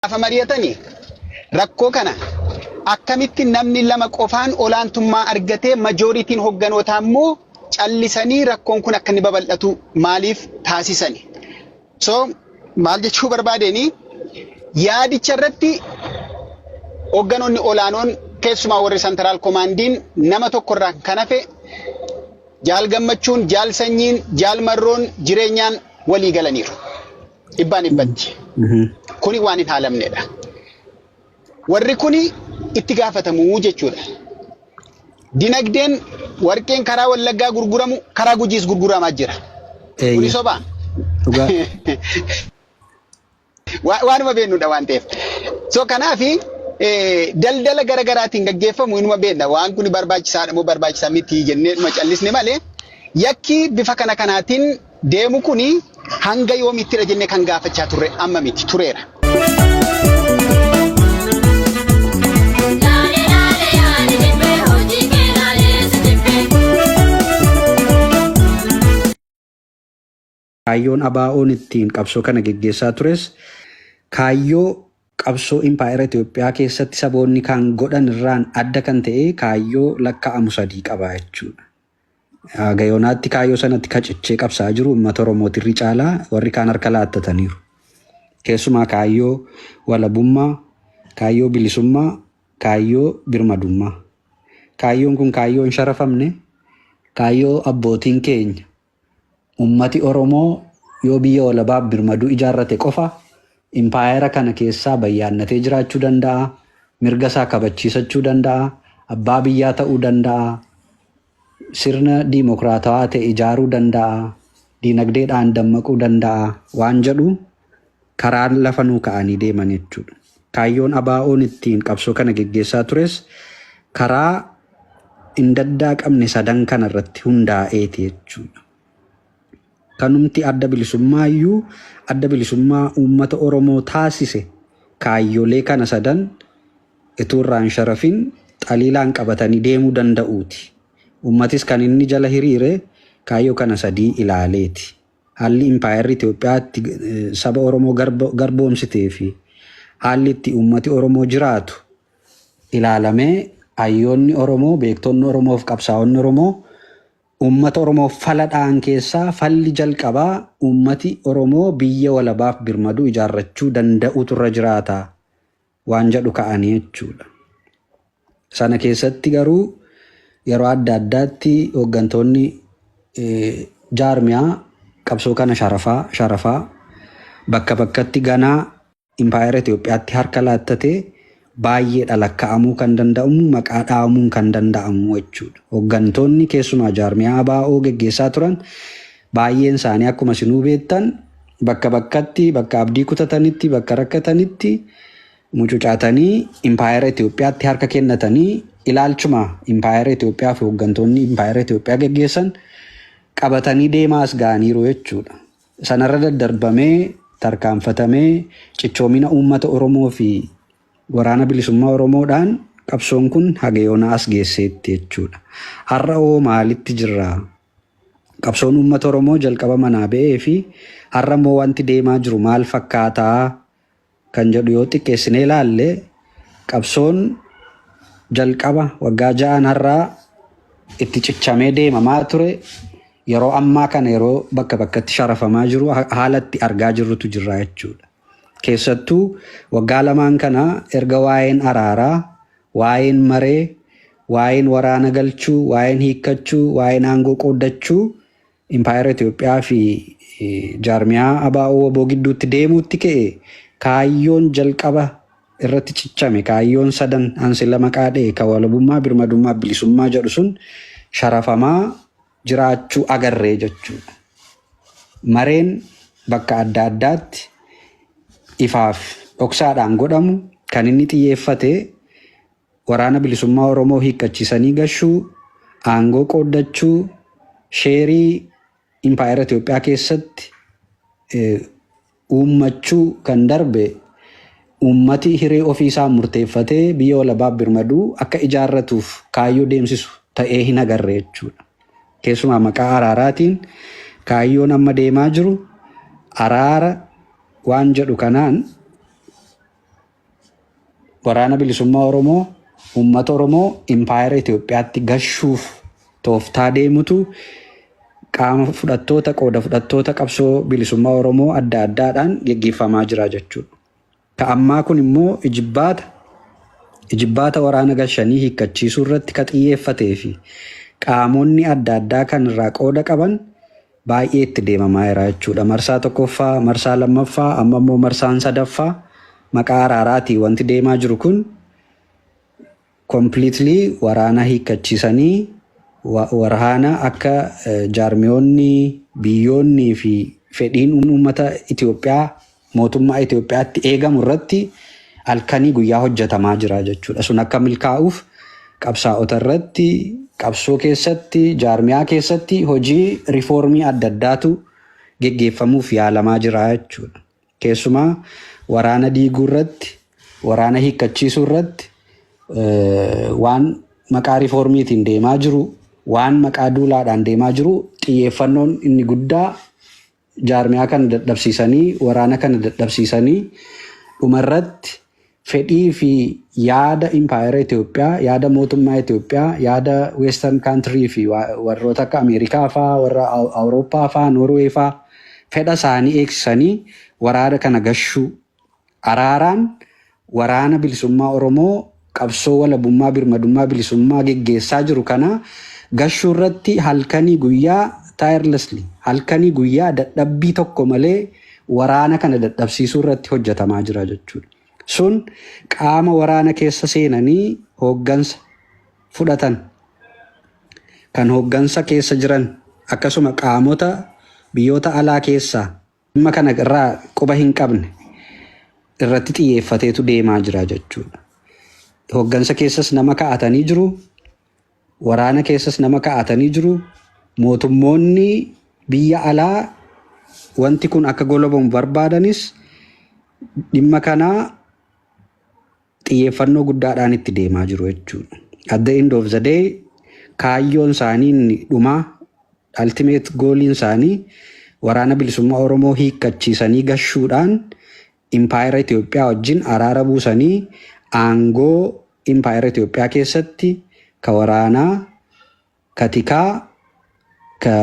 Gaafa mari'atani rakkoo kana akkamitti namni lama qofaan olaantummaa argatee majooritiin hogganootaa immoo callisanii rakkoon kun akka inni babal'atu maaliif taasisani? So maal jechuu barbaadeenii yaadicha irratti hogganoonni olaanoon keessumaa warri santaraal komaandiin nama tokko irraa kan hafe jaal gammachuun, jaal sanyiin, jaal marroon jireenyaan walii galaniiru. dhibbaan dhibbatti. Kuni waan hin haalamnedha. Warri kuni itti gaafatamu jechuudha. Dinagdeen warqeen karaa Wallaggaa gurguramu karaa Gujiis gurguramaa jira. Kuni sobaa? Dhugaa. Wa- Waanuma beeknudha waan ta'eef. So kanaafi eh, daldala gara garaatiin gaggeeffamu inuma beekna. Waan kun barbaachisaadha moo barbaachisaa miti jennee dhuma callisne malee yakki bifa kana kanaatiin deemu kuni hanga yoomittidha jennee kan gaafachaa turre amma miti tureera. Kaayyoon ABO'n ittiin qabsoo kana geggeessaa tures kaayyoo qabsoo impaayera Itoophiyaa keessatti saboonni kan godhan irraan adda kan ta'e kaayyoo lakkaa'amu sadii qaba jechuudha. Haga yoonaatti kaayyoo sanatti ka cichee qabsaa'aa jiru uummata Oromooti irri caalaa warri kaan harka laattataniiru. Keessumaa kaayyoo walabummaa, kaayyoo bilisummaa, kaayyoo birmadummaa. Kaayyoon kun kaayyoo hin sharafamne, kaayyoo abbootiin keenya Ummati Oromoo yoo biyya walabaaf birmaduu ijaarrate qofa impaayera kana keessaa bayyaannatee jiraachuu danda'a, mirga isaa kabachiisachuu danda'a, abbaa biyyaa ta'uu danda'a, sirna diimokiraatawaa ta'e ijaaruu danda'a, diinagdeedhaan dammaquu danda'a waan jedhu karaan lafa nuu ka'anii deeman jechuudha. Kaayyoon ABOn ittiin qabsoo kana geggeessaa tures karaa hin daddaaqamne sadan kana irratti hundaa'eeti jechuudha. Kanumti adda bilisummaa iyyuu adda bilisummaa uummata Oromoo taasise kaayyolee kana sadan ituu irraa hin sharafin xaliilaan qabatanii deemuu danda'uuti. Uummatis kan inni jala hiriire kaayyoo kana sadii ilaaleeti. Haalli impaayerri Itoophiyaa itti saba Oromoo garboomsitee fi haalli itti uummati Oromoo jiraatu ilaalamee hayyoonni Oromoo, beektonni Oromoo fi qabsaa'onni Oromoo uummata Oromoof fala dha'an keessaa falli jalqabaa uummati Oromoo biyya walabaaf birmadu ijaarrachuu danda'uutu irra jiraata waan jedhu ka'anii jechuudha. Sana keessatti garuu yeroo adda addaatti hooggantoonni jaarmiyaa qabsoo kana sharafaa sharafaa bakka bakkatti ganaa impaayera Itoophiyaatti harka laattatee baay'eedha lakka'amuu kan danda'amu maqaa dhaamuun kan danda'amu jechuudha. Hooggantoonni keessumaa jaarmiyaa ABO geggeessaa turan Baay'een isaanii akkuma isinuu beektan bakka bakkatti, bakka abdii kutatanitti, bakka rakkatanitti mucucaatanii impaayera Itoophiyaatti harka kennatanii ilaalchuma impaayera Itoophiyaa fi hooggantoonni impaayera Itoophiyaa geggeessan qabatanii deemaa as ga'aniiru jechuudha. Sanarra daddarbamee tarkaanfatamee cichoomina uummata Oromoo fi Waraana Bilisummaa Oromoodhaan qabsoon kun haga yoonaa as geesseetti jechuudha. Har'a hoo maalitti jirra? Qabsoon uummata Oromoo jalqaba manaa ba'ee fi har'a immoo wanti deemaa jiru maal fakkaata kan jedhu yoo xiqqeessinee ilaalle qabsoon jalqaba waggaa ja'aan har'aa itti cichamee deemamaa ture yeroo ammaa kana yeroo bakka bakkatti sharafamaa jiru ha- haala itti argaa jirrutu jirra jechuudha. Keessattuu waggaa lamaan kana erga waa'een araaraa Waa'een maree, waa'een waraana galchuu, waa'een hiikkachuu, waa'een aangoo qooddachuu Impaayera Itoophiyaa fi jaarmiyaa ABO-wbo gidduutti deemuutti ka'e kaayyoon jalqaba irratti cichame, kaayyoon sadan an silla maqaa dha'e ka walabummaa, birmadummaa fi bilisummaa jedhu sun sharafamaa jiraachuu agarre jechuudha. Mareen bakka adda addaatti ifaaf dhoksaadhaan godhamu kan inni xiyyeeffate Waraana Bilisummaa Oromoo hiikkachiisanii gashuu, aangoo qooddachuu, sheerii Impaayera Itoophiyaa keessatti uummachuu kan darbe uummati hiree ofii isaan murteeffatee biyya walabaaf birmadu akka ijaarratuuf kaayyoo deemsisu ta'ee hin agarre jechuudha. Keessumaa maqaa araaraatiin kaayyoon amma deemaa jiru araara waan jedhu kanaan waraana bilisummaa Oromoo uummata Oromoo impaayera Itoophiyaatti gashuuf tooftaa deemutu qaama fudhattoota qooda fudhattoota qabsoo bilisummaa Oromoo adda addaadhaan geggeeffamaa jira jechuudha. Ka ammaa kun immoo ijibbaata ijibbaata waraana gashanii hiikkachiisuu irratti ka xiyyeeffatee fi qaamonni adda addaa kan irraa qooda qaban baay'ee itti deemamaa jira jechuudha. Marsaa tokkoffaa, marsaa lammaffaa, amma immoo marsaan sadaffaa maqaa araaraatiin wanti deemaa jiru kun completely waraana hiikkachiisanii wa- waraana akka eh, jaarmiyoonni, biyyoonnii fi fedhiin uummata Itoophiyaa mootummaa Itoophiyaatti eegamu irratti halkanii guyyaa hojjetamaa jira jechuudha. Sun akka milkaa'uuf qabsaa'ota irratti, qabsoo keessatti, jaarmiyaa keessatti hojii rifoormii adda addaatu geggeeffamuuf yaalamaa jira jechuudha. Keessumaa waraana diiguu irratti, waraana hiikkachiisuu irratti waan maqaa rifoormiitiin deemaa jiru, waan maqaa duulaadhaan deemaa jiru xiyyeeffannoon inni guddaa jaarmiyaa kana dadhabsiisanii, waraana kana dadhabsiisanii dhumarratti fedhii fi yaada impaayera Itoophiyaa, yaada mootummaa Itoophiyaa, yaada Western country fi warroota akka Ameerikaa faa, warra Awurooppaa faa, Norway faa fedha isaanii eegsisanii waraana kana gashuu Araaraan Waraana Bilisummaa Oromoo qabsoo walabummaa birmadummaa bilisummaa geggeessaa jiru kana gashuu irratti halkanii guyyaa tirelessly halkanii guyyaa dadhabbii tokko malee waraana kana dadhabsiisuu irratti hojjetamaa jira jechuudha. Sun qaama waraana keessa seenanii hooggansa fudhatan, kan hooggansa keessa jiran akkasuma qaamota biyyoota alaa keessaa Dhimma kana irraa quba hin qabne irratti xiyyeeffateetu deemaa jira jechuudha. Hoggansa keessas nama ka'atanii jiru, waraana keessas nama ka'atanii jiru, mootummoonni biyya alaa wanti kun akka golobamu barbaadanis dhimma kana xiyyeeffannoo guddaadhaan itti deemaa jiru jechuudha. At the end of the day kaayyoon isaanii inni dhumaa Ultimate goaliin isaanii Waraana Bilisummaa Oromoo hiikkachiisanii gashuudhaan Impaayera Itoophiyaa wajjin araara buusanii aangoo Impaayera Itoophiyaa keessatti ka waraanaa, ka tikaa, ka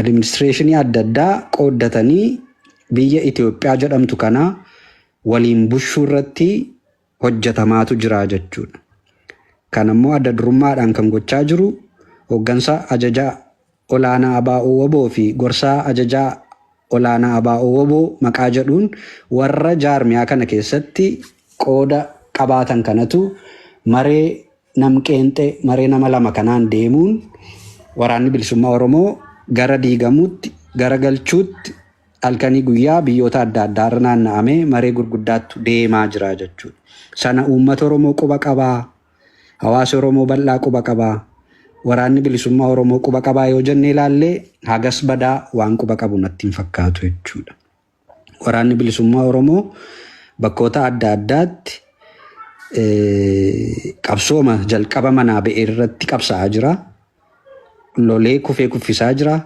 administreeshinii adda addaa qooddatanii biyya Itoophiyaa jedhamtu kana waliin bushuu irratti hojjetamaatu jira jechuudha. Kana immoo adda durummaadhaan kan gochaa jiru Hooggansa Ajajaa Olaanaa ABO-wbo fi Gorsaa Ajajaa Olaanaa ABO-wbo maqaa jedhuun warra jaarmiyaa kana keessatti qooda qabaatan kanatu maree nam-qeenxee, maree nama lama kanaan deemuun Waraanni Bilisummaa Oromoo gara diigamuutti, gara galchuutti, Halkanii guyyaa biyyoota adda addaa irra naanna'amee maree gurguddaattu deemaa jira jechuudha. Sana uummata Oromoo quba qabaa? Hawaasi Oromoo bal'aa quba qabaa? Waraanni Bilisummaa Oromoo quba qabaa yoo jennee ilaalle hagas badaa waan quba qabu natti hin fakkaatu jechuudha. Waraanni Bilisummaa Oromoo bakkoota adda addaatti qabsooma jalqaba manaa ba'e irratti qabsa'aa jira. Lolee kufee kuffisaa jira.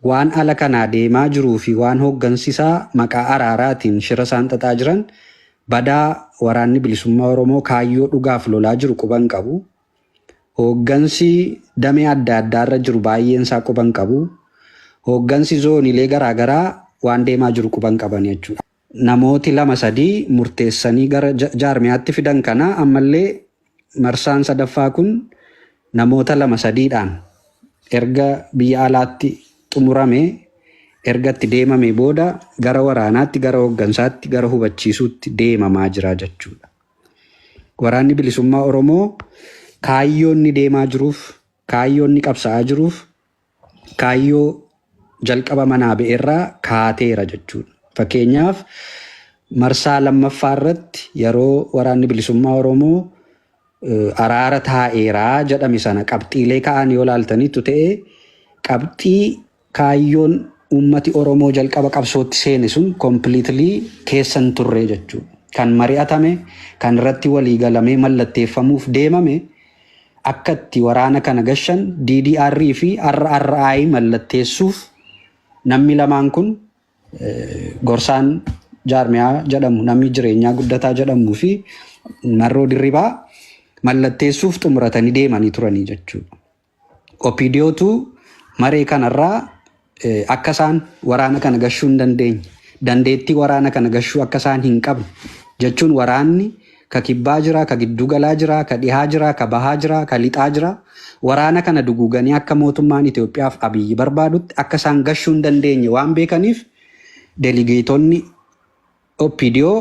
Waan ala kanaa deemaa jiruu fi waan hooggansi isaa maqaa araaraatiin shira isaan xaxaa jiran badaa Waraanni Bilisummaa Oromoo kaayyoo dhugaaf lolaa jiru quba hin qabu. Hooggansi damee adda addaa irra jiru baay'een isaa quba hin qabu. Hooggansi zooniilee garaa garaa waan deemaa jiru quba hin qabani jechuudha. namooti lama sadii murteessanii gara jaarmiyaatti fidan kana ammallee marsaan sadaffaa kun namoota lama sadiidhaan erga biyya alaatti xumurame erga itti deemamee booda gara waraanaatti gara hooggansaatti gara hubachiisuutti deemamaa jira jechuudha. Waraanni bilisummaa Oromoo kaayyoon ni deemaa jiruuf kaayyoon ni qabsa'aa jiruuf Kaayyoo jalqaba manaa ba'erraa kaateera jechuudha. Fakkeenyaaf marsaa lammaffaa irratti yeroo waraanni bilisummaa Oromoo araara taa'eeraa jedhame sana qabxiilee ka'an yoo laaltaniittu ta'e qabxii kaayyoon uummati Oromoo jalqaba qabsootti seene sun kompiliitilii keessa hin turre jechuudha. Kan mari'atame, kan irratti walii galamee mallatteeffamuuf deemame Akka itti waraana kana gashan DDR fi RRI mallatteessuuf nammi lamaan kun gorsaan jaarmiyaa jedhamu nammi jireenyaa guddataa jedhamuu fi Marroo Dirribaa mallatteessuuf xumuratanii deemanii turanii jechuudha. Opidiyootu maree kanarraa Akka isaan waraana kana gashuu hin dandeenye, dandeettii waraana kana gashuu akka isaan hin qabne, jechuun waraanni ka kibbaa jira, ka gidduu galaa jira, ka dhihaa jira, ka bahaa jira, ka lixaa jira, waraana kana duguuganii akka mootummaan Itoophiyaa fi Abiyyi barbaadutti akka isaan gashuu hin dandeenye waan beekaniif deligeetonni OPDO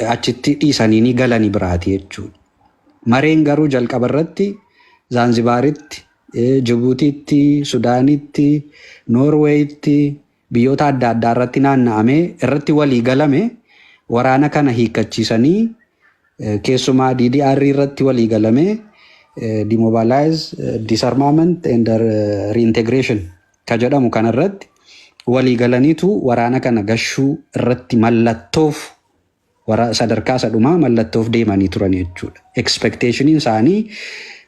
achitti dhiisanii ni galani biraati jechuudha. Mareen garuu jalqaba irratti Zaanzibaaritti, Jibuutiitti, Sudaanitti, Noorweeyitti, biyyoota adda addaa irratti naanna'amee irratti walii galame waraana kana hiikkachiisanii keessumaa DDR irratti walii galamee demobilize, disarmament and reintegration ka jedhamu kana irratti walii galaniitu waraana kana gashuu irratti mallattoof wara sadarkaa isa dhumaa mallattoof deemanii turan jechuudha. Expectationiin isaanii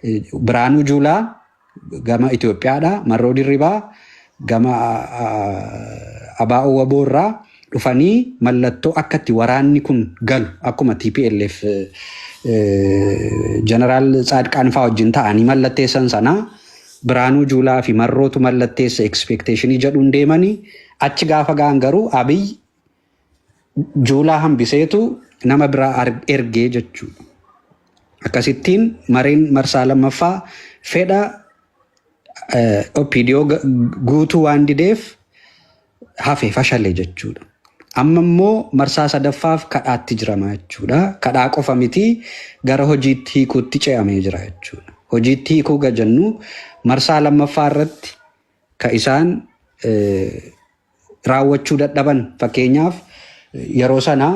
eh, Biraanuu Juulaa gama Itoophiyaadha, Marroo Dirribaa gama ah, ah, Abaa Owwaboo irraa dhufanii mallattoo akka itti waraanni kun galu akkuma tplf jeneraal Tsaadqaan faa wajjin ta'anii mallatteessan sana Biraanuu Juulaa fi Marrootu mallatteessa ekspeekteeshinii jedhuun deemanii achi gaafa ga'an garuu Abiy Juulaa hambiseetu nama biraa ar- ergee jechuudha. Akkasittiin mareen marsaa lammaffaa fedha eh, OPDO ga- guutuu waan dideef hafe fashale jechuudha. Amma immoo marsaa sadaffaaf kadhaatti jirama jechuudha. Kadhaa qofa miti gara hojiitti hiikuutti ce'amee jira jechuudha. Hojiitti hiikuu ga jennu marsaa lammaffaa irratti ka isaan raawwachuu dadhaban fakkeenyaaf yeroo sana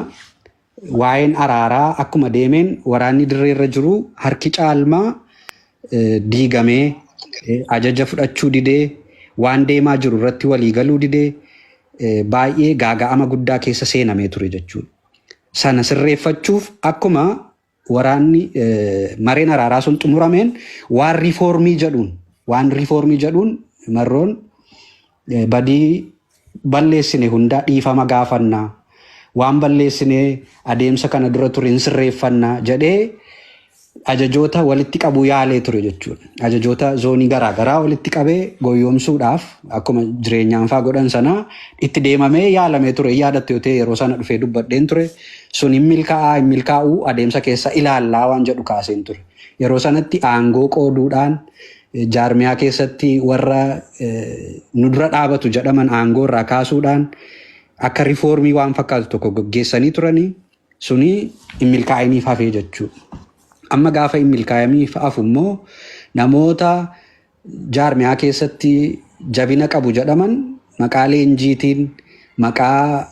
Waa'een araaraa akkuma deemeen waraanni dirreerra jiru harki caalmaa diigamee, ajaja fudhachuu didee, waan deemaa jiru irratti walii galuu didee baay'ee gaaga'ama guddaa keessa seenamee ture jechuudha. Sana sirreeffachuuf akkuma waraanni mareen araaraa sun xumurameen waan riifoormii jedhuun waan riifoormii jedhuun marroon Badii balleessine hundaa dhiifama gaafanna, waan balleessine adeemsa kana dura ture hin sirreeffanna jedhee ajajoota walitti qabuu yaalee ture jechuudha. Ajajoota zoonii garaa garaa walitti qabee goyyoomsuudhaaf akkuma jireenyaan faa godhan sanaa itti deemamee yaalamee ture. Hin yaadatte yoo ta'e yeroo sana dhufee dubbadheen ture. Sun hin milkaa'aa hin milkaa'uu adeemsa keessa ilaallaa waan jedhu kaaseen ture. Yeroo sanatti aangoo qooduudhaan Jaarmiyaa keessatti warra nu dura dhaabatu jedhaman aangoo irraa kaasuudhaan akka rifoormii waan fakkaatu tokko gaggeessanii turanii suni hin milkaa'iniif hafee jechuudha. Amma gaafa hin milkaa'iniif hafu immoo namoota jaarmiyaa keessatti jabina qabu jedhaman maqaa leenjiitiin maqaa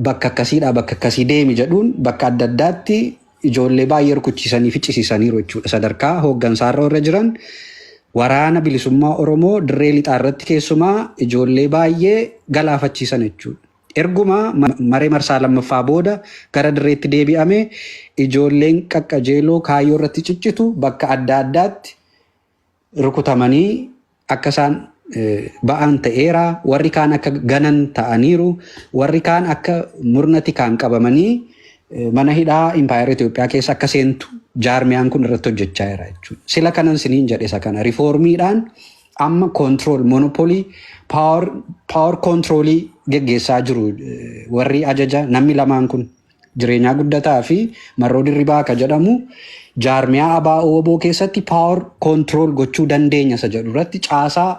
bakka akkasiidhaa bakka akkasii deemi jedhuun bakka adda addaatti ijoollee baay'ee rukuchiisanii ficcisiisaniiru jechuudha. Sadarkaa hooggansaarra warra jiran waraana bilisummaa Oromoo dirree lixaa irratti keessumaa ijoollee baay'ee galaafachiisan jechuudha. Erguma maree marsaa lammaffaa booda gara dirreetti deebi'ame ijoolleen qaqqajeeloo kaayyoo irratti ciccitu bakka adda addaatti rukutamanii akka isaan ba'aan ta'eera warri kaan akka ganan ta'aniiru warri kaan akka murna tikaan qabamanii mana hidhaa impaayera Itoophiyaa keessa akka seentu jaarmiyaan kun irratti hojjechaa jira jechuudha. Sila kanan siniin jedhe isa kana rifoormiidhaan amma koontirool monopolii paawar koontiroolii geggeessaa jiru warri ajaja namni lamaan kun. Jireenyaa Guddataa fi Marroo Dirribaa ka jedhamu jaarmiyaa ABO-wbo keessatti power control gochuu dandeenya isa jedhu irratti caasaa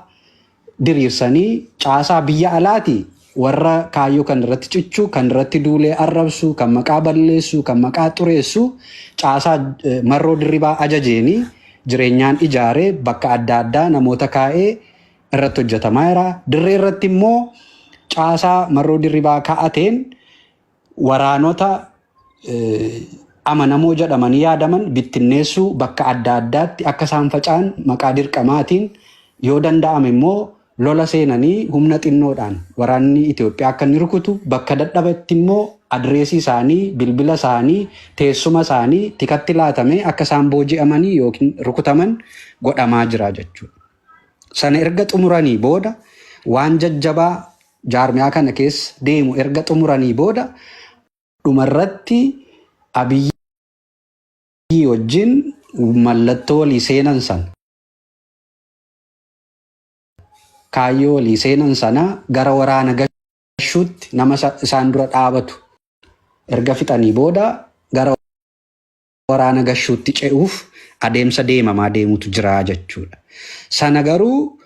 diriirsanii caasaa biyya alaati warra kaayyoo kan irratti cichu, kan irratti duulee arrabsu, kan maqaa balleessu, kan maqaa xureessu caasaa eh, Marroo Dirribaa ajajeeni jireenyaan ijaare bakka adda addaa namoota kaa'ee irratti hojjetamaa jira. Dirree irratti immoo caasaa Marroo Dirribaa kaa'ateen Waraanota amanamoo jedhamanii yaadaman bittinneessuu, bakka adda addaatti akka isaan faca'an maqaa dirqamaatiin, yoo danda'ame immoo lola seenanii humna xinnoodhaan waraanni Itoophiyaa akka inni rukutu, bakka dadhabetti immoo adireesii isaanii, bilbila isaanii, teessuma isaanii tikatti laatamee akka isaan booji'amanii yookiin rukutaman godhamaa jira jechuudha. Sana erga xumuranii booda waan jajjabaa jaarmiyaa kana keessa deemu erga xumuranii booda dhumarratti Abiyyii wajjin mallattoo walii seenan sana, kaayyoo walii seenan sana gara waraana gashuutti nama isaan dura dhaabatu erga fixanii booda gara waraana gashuutti ce'uuf adeemsa deemamaa deemutu jira jechuudha. Sana garuu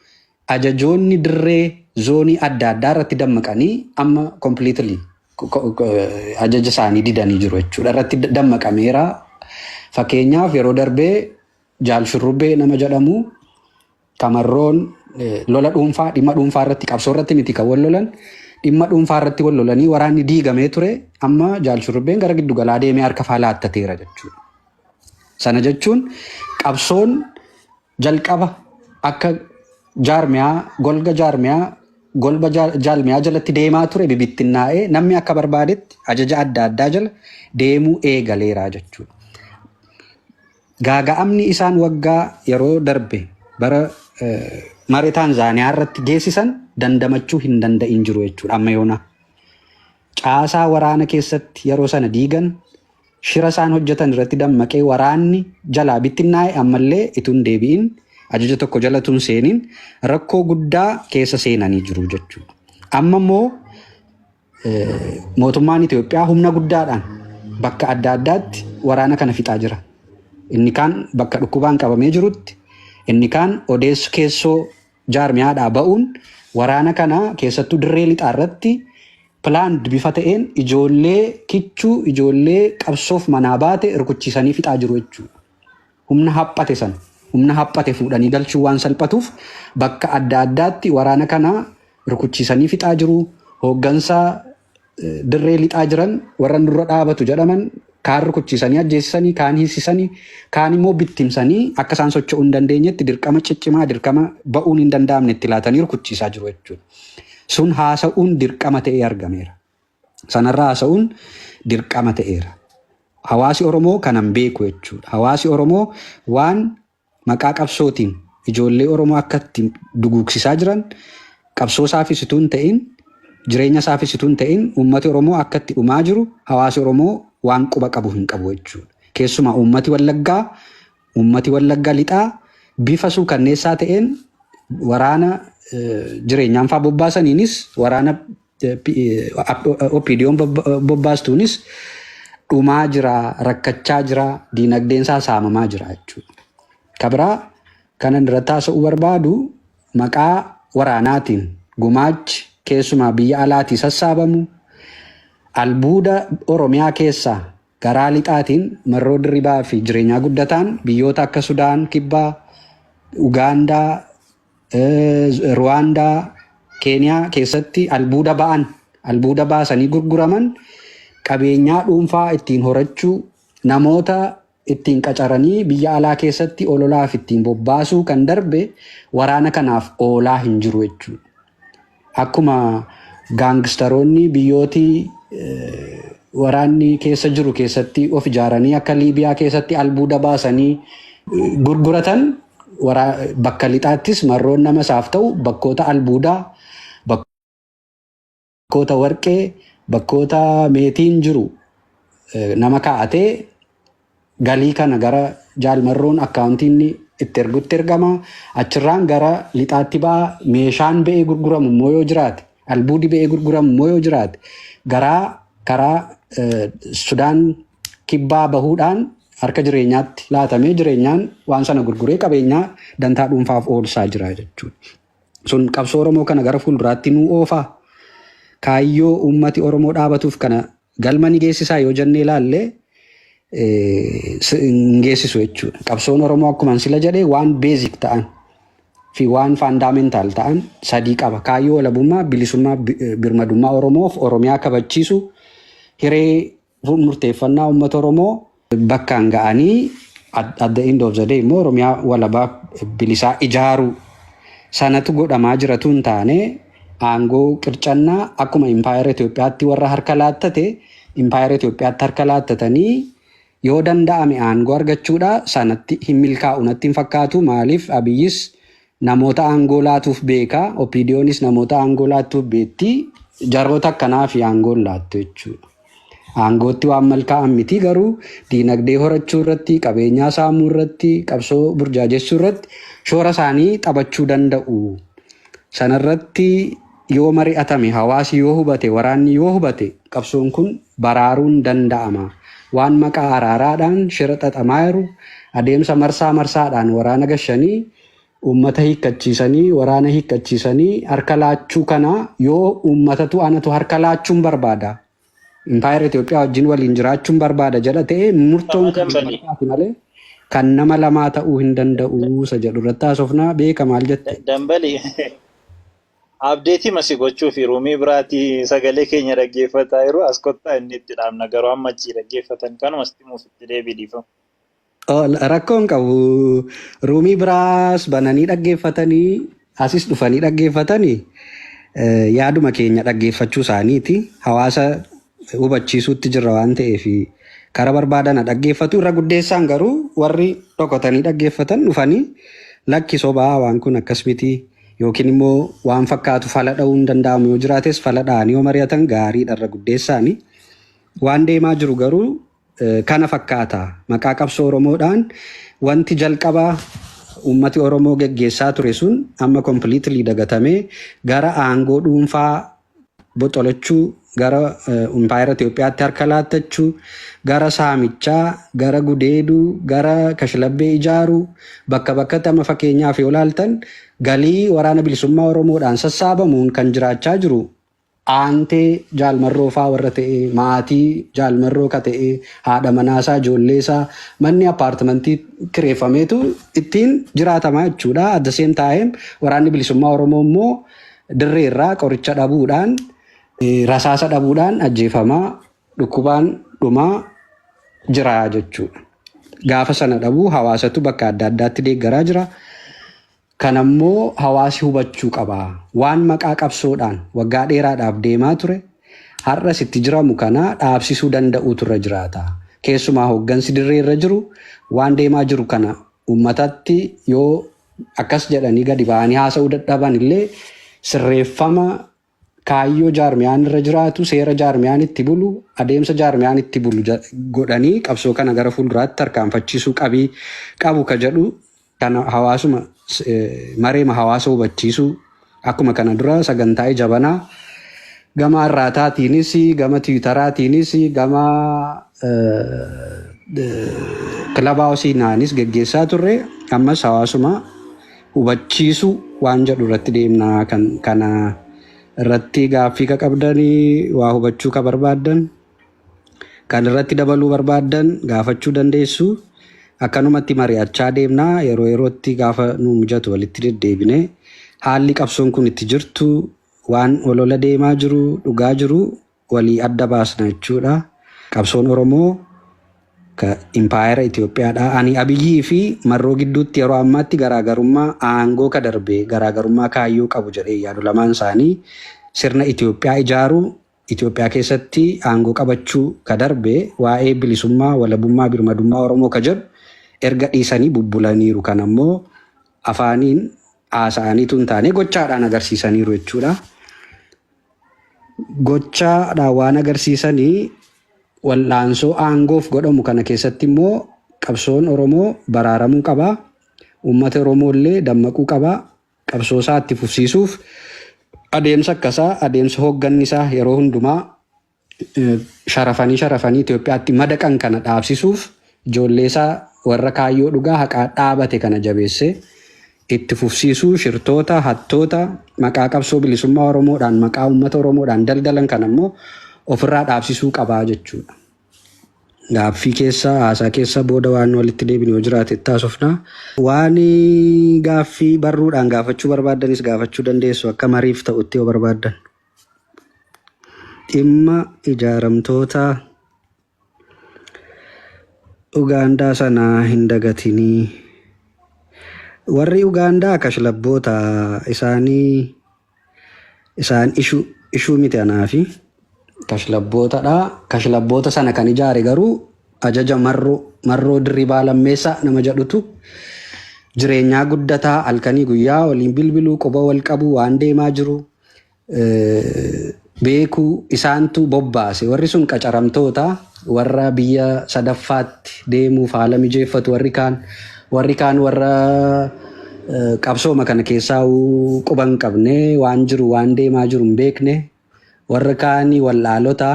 ajajoonni dirree zoonii adda addaa irratti dammaqanii amma completely ajaja isaanii didanii jiru jechuudha. Irratti dammaqameera. Fakkeenyaaf yeroo darbee jaal shurrubbee nama jedhamu Tamarroon lola dhuunfaa dhimma dhuunfaa irratti qabsoo irratti miti kan wal lolan dhimma dhuunfaa irratti wal lolanii waraanni diigamee ture amma jaal shurrubbeen gara giddu galaa deemee harka faa laattateera jechuudha. Sana jechuun qabsoon jalqaba akka jaarmiyaa golga jaarmiyaa golba jaal- jaalmiyaa jalatti deemaa ture bibittinnaa'ee namni akka barbaadetti ajaja adda addaa jala deemuu eegaleera jechuudha. Gaaga'amni isaan waggaa yeroo darbe bara mare Taanzaaniyaa irratti geessisan dandamachuu hin danda'in jiru jechuudha amma yoonaa. Caasaa waraana keessatti yeroo sana diigan shira isaan hojjetan irratti dammaqee waraanni jalaa bittinnaa'e ammallee ituun deebi'in ajaja tokko jala tun seeniin rakkoo guddaa keessa seenanii jiru jechuudha. Amma immoo Mootummaan Itoophiyaa humna guddaadhaan bakka adda addaatti waraana kana fixaa jira. Inni kaan bakka dhukkubaan qabamee jirutti, inni kaan odeessu keessoo jaarmiyaadhaa ba'uun waraana kana keessattuu dirree lixaa irratti pilaand bifa ta'een ijoollee kichuu, ijoollee qabsoof manaa baate rukuchiisanii fixaa jiru jechuudha. Humna haphate sana humna haphate fuudhanii galchuun waan salphatuuf bakka adda addaatti waraana kana rukuchiisanii fixaa jiru. Hooggansa dirree lixaa jiran warra nurra dhaabatu jedhaman kaan rukuchiisanii ajjeesisanii, kaan hiisisanii, kaan immoo bittimsanii akka isaan socho'uu hin dandeenyetti dirqama ciccimaa, dirqama ba'uun hin danda'amne itti laatanii rukuchiisaa jiru jechuudha. Sun haasa'uun dirqama ta'ee argameera. Sanarra haasa'uun dirqama ta'eera. Hawaasi Oromoo kanan beeku jechuudha. Hawaasi Oromoo waan maqaa qabsootiin ijoollee Oromoo akka itti duguugsisaa jiran qabsoo isaafis utuu hin ta'in jireenya isaafis utuu hin ta'in uummati Oromoo akka itti dhumaa jiru hawaasi Oromoo waan quba qabu hin qabu jechuudha. Keessumaa uummati Wallaggaa uummati Wallaggaa lixaa bifa suukanneessaa ta'een waraana jireenyaanfaa bobbaasaniinis waraana OPDOn bobbaastuunis dhumaa jira, rakkachaa jira, diinagdeen isaa saamamaa jira jechuudha. Kabiraa kanan irratti haasa'uu barbaadu maqaa waraanaatiin gumaachi keessumaa biyya alaatii sassaabamu albuuda Oromiyaa keessaa garaa lixaatiin marroo dirribaa fi jireenyaa guddataan biyyoota akka Sudaan kibbaa, Ugaandaa, Ruwaandaa, Keeniyaa keessatti albuuda ba'an albuuda baasanii gurguraman qabeenyaa dhuunfaa ittiin horachuu namoota ittiin qacaranii biyya alaa keessatti ololaaf ittiin bobbaasuu kan darbe waraana kanaaf oolaa hin jiru jechuudha. Akkuma gaangistaroonni biyyooti waraanni keessa jiru keessatti of ijaaranii akka Liibiyaa keessatti albuuda baasanii gurguratan bakka lixaattis marroon nama isaaf ta'u bakkoota albuudaa, bakkoota warqee, bakkoota meetiin jiru nama kaa'atee Galii kana gara Jaal Marroon akkaawuntii inni itti ergutti ergama. Achirraan gara lixaatti ba'a. Meeshaan ba'ee gurguramu immoo yoo jiraate, albuudi ba'ee gurguramu immoo yoo jiraate, garaa karaa Sudaan kibbaa bahuudhaan harka jireenyaatti laatamee jireenyaan waan sana gurguree qabeenyaa dantaa dhuunfaaf oolsaa jira jechuudha. Sun qabsoo Oromoo kana gara fuulduraatti nuu oofaa? Kaayyoo uummati Oromoo dhaabatuuf kana Galma ni geessisaa yoo jennee ilaalle hin geessisu jechuudha. Qabsoon Oromoo akkuma sila jedhe waan beezik ta'an fi waan faandaamentaal ta'an sadii qaba. Kaayyoo walabummaa, bilisummaa, birmadummaa Oromoof Oromiyaa kabachiisu hiree murteeffannaa uummata Oromoo bakkaan ga'anii at the end of the day immoo Oromiyaa walabaa bilisaa ijaaruu sanatu godhamaa jiratuu hin taane aangoo qircannaa akkuma impaayera Itoophiyaatti warra harka laattate impaayera Itoophiyaatti harka laattatanii yoo danda'ame aangoo argachuudha sanatti hin milkaa'u natti hin fakkaatu maaliif Abiyyis Namoota aangoo laatuuf beeka, OPDOnis namoota aangoo laattuuf beekti. Jarroota akkanaafi aangoo hin laattu jechuudha. Aangootti waan malkaa'an miti garuu diinagdee horachuu irratti, qabeenyaa saamuu irratti, qabsoo burjaajessuu irratti shoora isaanii taphachuu danda'u. Sanarratti yoo mari'atame, hawaasi yoo hubate, waraanni yoo hubate qabsoon kun baraaruun danda'ama. Waan maqaa araaraadhaan shira xaxamaa jiru, adeemsa marsaa marsaadhaan waraana gashanii, uummata hiikkachiisanii, waraana hiikkachiisanii harka laachuu kana yoo uummatatu anatu harka laachuun barbaada, Impaayera Itoophiyaa wajjin waliin jiraachuun barbaada jedha ta'e murtoon kan uummattaati malee kan nama lamaa ta'uu hin danda'u isa jedhu irratti haasofnaa beeka maal jette? Dambali abdeetii masi gochuu fi ruumii biraatii sagalee keenya dhaggeeffataa yeroo as kottaa inni itti dhaabna garuu amma achii dhaggeeffatan kanuma sitti muuf itti deebii dhiifama. Ol rakkoo hin qabu. Ruumii biraas bananii dhaggeeffatanii asis dhufanii dhaggeeffatanii eh, yaaduma keenya dhaggeeffachuu isaaniiti. Hawaasa hubachiisuutti jirra waan ta'eef kara barbaadana dhaggeeffatu. Irra guddeessaan garuu warri dhokotanii dhaggeeffatan dhufanii lakki sobaa waan kun akkas miti yookiin immoo waan fakkaatu fala dha'uu hin danda'amu yoo jiraates fala dha'anii yoo mari'atan gaariidha irra guddeessaanii. Waan deemaa jiru garuu kana fakkaata. Maqaa qabsoo Oromoodhaan wanti jalqaba uummati Oromoo geggeessaa ture sun amma completely dagatamee gara aangoo dhuunfaa boxolachuu, gara impaayera Itoophiyaatti harka laattachuu, gara saamichaa, gara gudeeduu, gara kashlabbee ijaaruu, bakka bakkatti amma fakkeenyaaf yoo laaltan galii waraana bilisummaa Oromoodhaan sassaabamuun kan jiraachaa jiru aantee jaal marroo faa warra ta'ee maatii jaal marroo ka ta'ee haadha manaa isaa ijoollee isaa manni appaartimantii kireeffameetu ittiin jiraatamaa jechuudha at the same time waraanni bilisummaa oromoo immoo dirree irraa qoricha dhabuudhaan rasaasa dhabuudhaan ajjeefamaa dhukkubaan dhumaa jira jechuudha gaafa sana dhabuu hawaasatu bakka adda addaatti deeggaraa jira. Kana immoo hawaasi hubachuu qaba. Waan maqaa qabsoodhaan waggaa dheeraadhaaf deemaa ture, har'as itti jiramu kana dhaabsisuu danda'uutu irra jiraata. Keessumaa hooggansi dirree irra jiru waan deemaa jiru kana uummatatti yoo akkas jedhanii gadi ba'anii haasa'uu dadhaban illee sirreeffama kaayyoo jaarmiyaan irra jiraatu, seera jaarmiyaan itti bulu, adeemsa jaarmiyaan itti bulu ja- godhanii qabsoo kana gara fuulduraatti tarkaanfachiisuu qabii qabu ka jedhu kan hawaasuma s- eh, mareema hawaasa hubachiisuu akkuma kana dura sagantaa ija banaa gama arraataatiinis gama tiwitaraatiinis gama eh, eh, kilabaa hawasiinaanis geggeessaa turre ammas hawaasuma hubachiisu waan jedhu irratti deemna kan kana irratti gaaffii ka qabdanii waa hubachuu ka barbaaddan kan irratti dabaluu barbaaddan gaafachuu dandeessu akkanumatti mari'achaa deemna yeroo yerootti gaafa nu mijatu walitti deddeebine haalli qabsoon kun itti jirtu waan olola deemaa jiru dhugaa jiru walii adda baasna jechuudha. Qabsoon Oromoo ka Impaayera Itoophiyaadha. Ani Abiyyii fi Marroo gidduutti yeroo ammaatti garaagarummaa aangoo ka darbe garaagarummaa kaayyoo qabu jedhee hin yaadu. Lamaan isaanii sirna Itoophiyaa ijaaruu, Itoophiyaa keessatti aangoo qabachuu ka darbe waa'ee bilisummaa, walabummaa, birmadummaa Oromoo ka jedhu erga dhiisanii bubbulaniiru. Kana immoo afaaniin haasa'anii utuu hin taane gochaadhaan agarsiisaniiru jechuudha. Gochaadhaan waan agarsiisanii wal'aansoo aangoof godhamu kana keessatti immoo qabsoon Oromoo baraaramuu qaba. Uummata Oromoo illee dammaquu qaba. Qabsoo isaa itti fufsiisuuf adeemsa akkasaa adeemsa hoogganni isaa yeroo hundumaa sharafanii sharafanii Itoophiyaatti madaqan kana dhaabsisuuf ijoolleesaa warra kaayyoo dhugaa haqaa dhaabate kana jabeessee itti fufsiisuu shirtoota, hattoota maqaa qabsoo bilisummaa Oromoodhaan maqaa uummata Oromoodhaan daldalan kana immoo ofirraa dhaabsisuu qaba jechuudha. Gaaffii keessa haasaa keessa booda waan walitti deebinu yoo jiraate itti haasofna. Waan gaaffii barruudhaan gaafachuu barbaaddanis gaafachuu dandeessu akka mariif ta'utti yoo barbaaddan. Dhimma ijaaramtoota Ugaandaa sana hin dagatinii. Warri Ugaandaa kashlabboota isaanii isaan ishu ishuu miti anaafi. Kashlabbootadha. Kashlabboota sana kan ijaare garuu ajaja marroo marroo dirribaa lammeessaa nama jedhutu jireenyaa guddataa halkanii guyyaa waliin bilbiluu quba wal qabu waan deemaa jiru beekuu isaantu bobbaase warri sun qacaramtoota warra biyya sadaffaatti deemuuf haala mijeeffatu warri kaan warri kaan warra qabsooma kana keessaa quban qabne waan jiru waan deemaa jiru hin beekne warra kaanii wal'aalota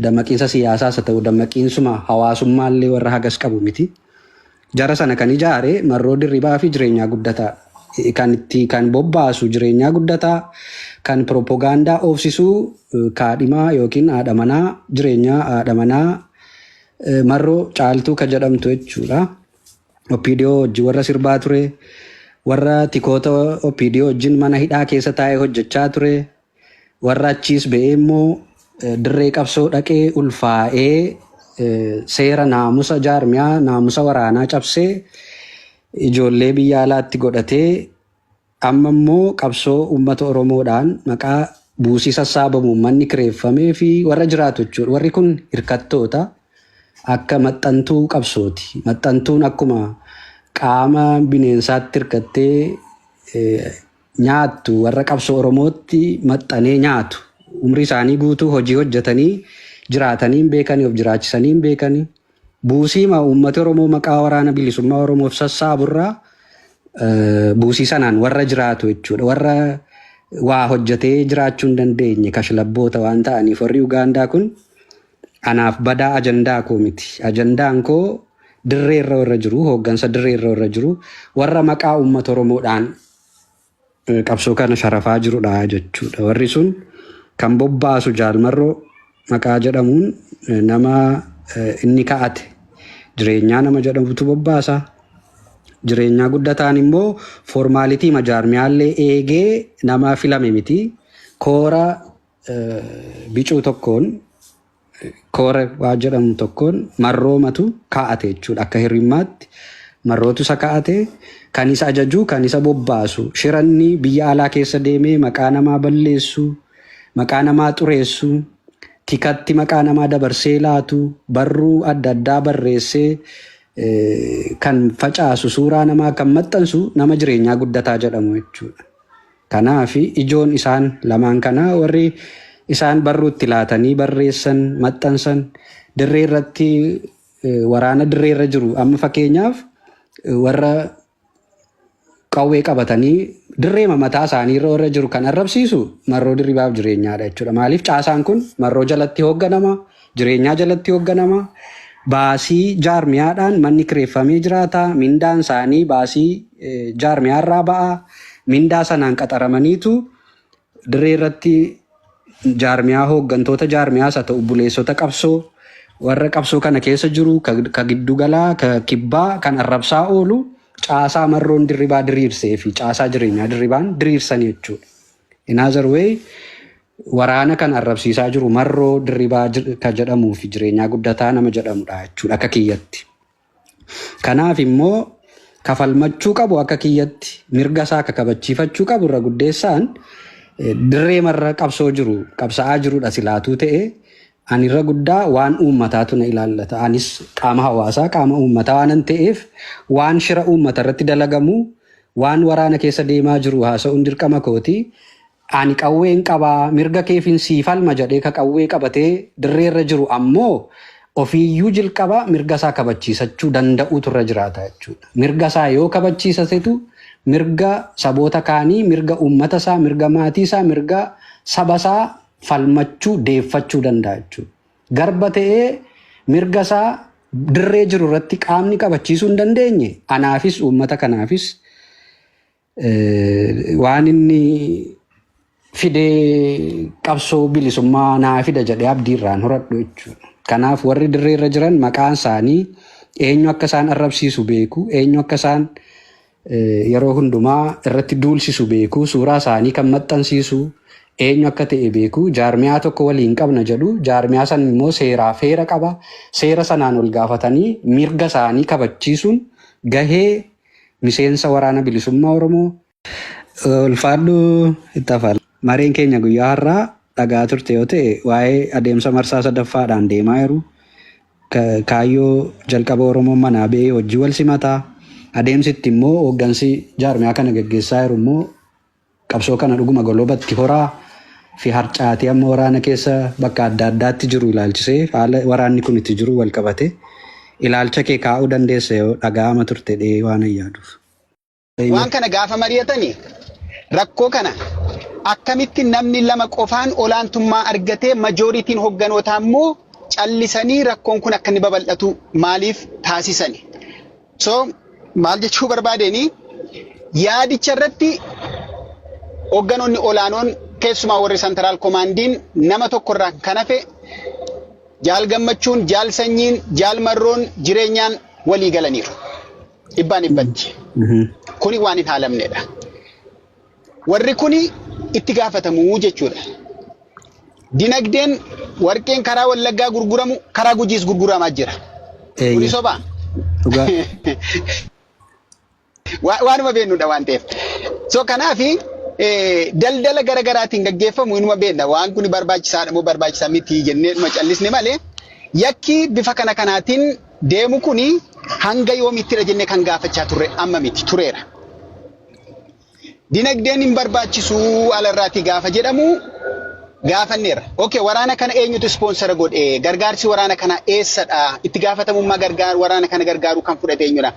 dammaqiinsa siyaasaas haa ta'u dammaqiinsuma hawaasummaallee warra hagas qabu miti. Jara sana kan ijaare Marroo Dirribaa fi Jireenyaa Guddataa. Kan itti kan bobbaasu Jireenyaa Guddataa, kan piroppogaandaa oofsisu kaadhimaa yookiin haadha manaa Jireenyaa haadha manaa Marroo Caaltuu ka jedhamtu jechuu dha. Oppiidiyoo wajjin warra sirbaa ture, warra tikoota Oppiidiyoo wajjin mana hidhaa keessa taa'ee hojjechaa ture, Warra achiis ba'ee immoo dirree qabsoo dhaqee ulfaa'ee seera naamusa jaarmiyaa naamusa waraanaa cabsee ijoollee biyya alaatti godhatee amma immoo qabsoo uummata Oromoodhaan maqaa buusii sassaabamuun manni kireeffamee fi warra jiraatu jechuudha. Warri kun hirkattoota akka maxxantuu qabsooti. Maxxantuun akkuma qaama bineensaatti hirkattee nyaattu warra qabsoo Oromootti maxxanee nyaatu. Umrii isaanii guutuu hojii hojjetanii jiraatanii hin beekani, of jiraachisanii hin beekani. Buusiima uummati Oromoo maqaa waraana bilisummaa Oromoof sassaaburraa buusii sanaan warra jiraatu jechuudha. Warra waa hojjetee jiraachuu hin dandeenye kashlabboota waan ta'aniif warri Ugaandaa kun Anaaf badaa ajandaa koo miti. Ajandaan koo dirree irra warra jiru, hooggansa dirree irra warra jiru, warra maqaa uummata Oromoodhaan eh, qabsoo kana sharafaa jirudha jechuudha. Warri sun kan bobbaasu jaalmarroo maqaa jedhamuun eh, nama eh, inni ka'ate jireenyaa nama jedhamutu bobbaasa. Jireenyaa guddataan immoo foormaalitii majaarmiyaallee eegee nama filame miti. Koora bicuu tokkoon koora waa jedhamu tokkoon marroomatu kaa'ate jechuudha. Akka hirrimmaatti marrootu isa kaa'ate kan isa ajajuu kan isa bobbaasu shiranni biyya alaa keessa deemee maqaa namaa balleessu maqaa namaa xureessu tikatti maqaa namaa dabarsee laatu barruu adda addaa barreessee kan facaasu suuraa namaa kan maxxansu nama jireenyaa guddataa jedhamu jechuudha. Kanaaf, ijoon isaan lamaan kanaa warri isaan barruutti laatanii barreessan, maxxansan, dirree irratti waraana dirree irra jiru. Amma fakkeenyaaf warra qawwee qabatanii dirreema mataa isaanii irra warra jiru kan arrabsiisu Marroo Dirribaaf Jireenyaadha jechuudha. Maaliif caasaan kun Marroo jalatti hoogganama. jireenyaa jalatti hoogganama. Baasii jaarmiyaadhaan manni kireeffamee jiraata. Mindaan isaanii baasii jaarmiyaa irraa ba'a. Mindaa sanaan qaxaramaniitu dirree irratti jaarmiyaa hooggantoota jaarmiyaas haa ta'u buleessota qabsoo warra qabsoo kana keessa jiru ka ka giddugalaa ka kibbaa kan arrabsaa oolu caasaa marroon dirribaa diriirsee fi caasaa jireenyaa dirribaan diriirsan jechuudha. In other way, waraana kan arrabsiisaa jiru Marroo Dirribaa ka jedhamuu fi Jireenyaa Guddataa nama jedhamudha jechuudha akka kiyyatti. Kanaaf immoo ka falmachuu qabu akka kiyyatti mirga isaa ka kabachiifachuu qabu irra guddeessaan dirree marra qabsoo jiru qabsa'aa jirudha silaatuu ta'e Ani irra guddaa waan uummataatu na ilaallata. Anis qaama hawaasaa, qaama uummataa waanan ta'eef waan shira uummata irratti dalagamu, waan waraana keessa deemaa jiru haasa'uun dirqama kooti. Ani qawween qaba, mirga keefin sii falma jedhee ka qawwee qabatee dirree irra jiru ammoo ofiiyyuu jlqaba mirga isaa kabachiisachuu danda'uutu irra jiraata jechuudha. Mirga isaa yoo kabachiisatetu mirga saboota kaanii, mirga uummata isaa, mirga maatii isaa, mirga saba isaa falmachuu, deeffachuu danda'a jechuudha. Garba ta'ee mirga isaa dirree jiru irratti qaamni qabachiisuu hin dandeenye anaafis uummata kanaafis eh, waan inni fidee qabsoo bilisummaa naa fida jedhee abdii irraan horadhu jechuudha. Kanaaf warri dirree irra jiran maqaan isaanii eenyu akka isaan arrabsiisu beeku, eenyu akka isaan yeroo hundumaa irratti duulsisu beeku, suuraa isaanii kan maxxansiisu, eenyu akka ta'e beeku, jaarmiyaa tokko waliin qabna jedhu, jaarmiyaa san immoo seeraaf heera qaba, seera sanaan ol gaafatanii mirga isaanii kabachiisuun gahee miseensa Waraana Bilisummaa Oromoo. Ulfaadhu itti hafa. Mareen keenya guyyaa har'aa dhaga'aa turte yoo ta'e waa'ee adeemsa marsaa sadaffaadhaan deemaa jiru, Kaayyoo jalqaba Oromoon manaa ba'ee hojji wal simata. Adeemsi itti immoo hooggansi jaarmiyaa kana gaggeessaa jiru immoo qabsoo kana dhuguma golobatti horaa fi harcaatii amma waraana keessa bakka adda addaatti jiru ilaalchisee haala waraanni kun itti jiru wal qabate ilaalcha kee kaa'uu dandeessa yoo dhaga'ama turte dhee waanan yaaduuf. Waan kana gaafa mari'atani rakkoo kana akkamitti namni lama qofaan olaantummaa argatee majooritiin hogganootaa immoo callisanii rakkoon kun akka inni babal'atu maaliif taasisani? So maal jechuu barbaadeni yaadicha irratti hogganoonni olaanoon keessumaa warri santaraal komaandiin nama tokko irraa kan hafe jaal gammachuun, jaal sanyiin, jaal marroon jireenyaan walii galaniiru. Dhibbaan dhibbatti. Kuni waan hin haalamnedha. Warri kuni itti gaafatamu jechuudha. Dinagdeen warqeen karaa Wallaggaa gurguramu karaa Gujiis gurguramaa jira. Kuni Eeyyee. sobaa? Dhugaa. Wa- waanuma beeknudha waan ta'eef. So kanaaf daldala gara garaatiin gaggeeffamu inuma beekna waan kun barbaachisaadha moo barbaachisaa miti jennee dhuma callisne malee yakki bifa kana kanaatiin deemu kun hanga yoomittidha jennee kan gaafachaa turre amma miti tureera. Dinagdeen hin barbaachisu alarraatii gaafa jedhamu gaafanneerra. Okay, waraana kana eenyutu ispoonsara godhe? Gargaarsi waraana kana eessadha? Itti gaafatamummaa gargaar waraana kana gargaaruu kan fudhate eenyudha?